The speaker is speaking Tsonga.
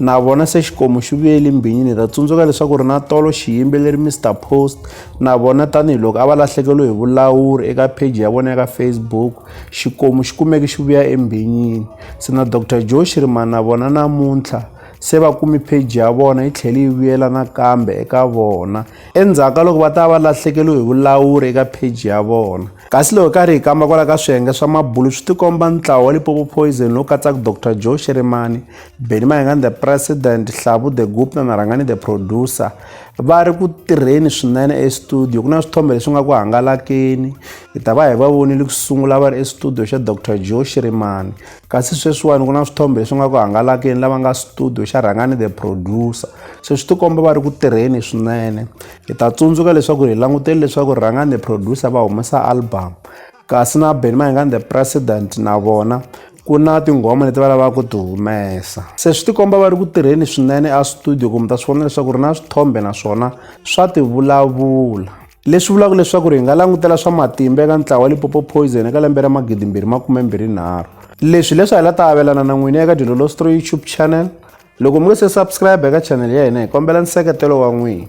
na vona se xikomu xi vuyeli mbhinyini ta tsundzuka leswaku ri na tolo xiyimbeleri mr post na vona tanihiloko a va lahlekeriwe hi vulawuri eka pheji ya vona ya ka facebook xikomu xi kumeke xi vuya embhinyini se na dr joe xirimani na vona namuntlha se va kumi pheji ya vona yi tlhele yi vuyela nakambe eka vona endzhaku ka loko va ta va lahlekeriwe hi vulawuri eka pheji ya vona kasi loko karhi hi kamba kwala ka swiyenge swa mabulu swi tikomba ntlawa wa lipopo poison lowu katsaka dr joe xirimani Benny Mayengani the president Hlavu the Gupta na Rhangani the producer va ri ku tirheni swinene estudio ku na swithombe leswi nga ku hangalakeni hi ta va hi va vonile ku sungula va ri estudio xa Dr Joe Shirimani kasi sweswiwani ku na swithombe leswi nga ku hangalakeni lava nga studio xa Rhangani the producer se swi tikomba va ri ku tirheni swinene hi ta tsundzuka leswaku hi langutele leswaku Rhangani the producer va humesa album kasi na Benny Mayengani the president na vona ku na tinghoma leti va lavaka ku ti humesa se swi tikomba va ri ku tirheni swinene a studio kumbe ta swi vona leswaku ri na swithombe naswona swa ti vulavula leswi vulaka leswaku ri hi nga langutela swa matimba eka ntlawa wa lipopo poison eka lembe ra magidimbirhi makumembirhinharhu leswi leswi hi la ta avelana na n'wini eka dilolostro youtube channel loko mi nge se subscribe eka channel ya hina hi kombela nseketelo wa n'wina